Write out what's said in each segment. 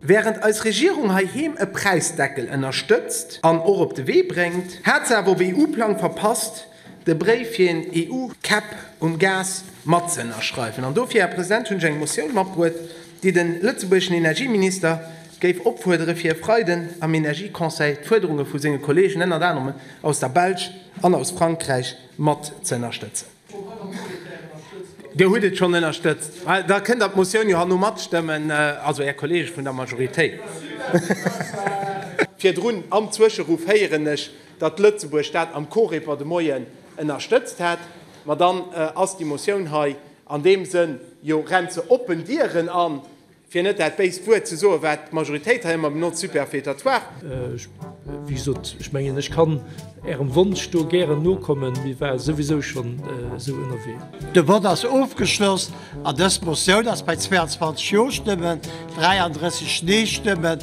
Während eis Regierung heiheem e Präisdeckel ënnerstëtzt an och op de Wee bréngt, hat se awer op EU-Plang verpasst, de Bréif fir een EU-Cap um Gas matzëënnerschreiwen. An dofir, Här President, hunn ech eng Motioun matbruet, déi de lëtzebuergeschen Energieminister géif opfuerdere fir e Freiden am Energieconseil d'Fuerderunge vu senge Kolleegen, ënnert anerem aus der Belsch an aus Frankräich, mat ze ënnerstëtzen. Dir hutt et schonn ënnerstëtzt, da kënnt Der d'Motioun jo herno matstëmmen, also Är Kolleege vun der Majoritéit. Virdrun am Zwëscheruff héieren ech, datt Lëtzebuerg dat am Coreper de Moien ënnerstëtzt hätt. Ma dann ass déi Motioun hei An deem Sënn, jo, rennt se oppen Dieren an, fir net dat béist Wuert ze soen, wat d'Majoritéit hei ëmmer benotzt, superfétatoire. Ech, wéi gesot, ech mengen, ech kann Ärem Wonsch do gären nokommen. Mir ware souwisou schonn esou ënnerwee. De Vott ass ofgeschloss. An dës Motioun ass bei 22 Jo-Stëmmen, 33 Nee-Stëmmen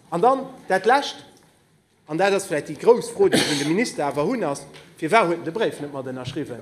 An dann dat Lescht, an dat ass vläicht déi grouss Fro, déi ech un de Minister awer hunn, ass, Firwat huet en de Bréif net mat ënnerschriwwen?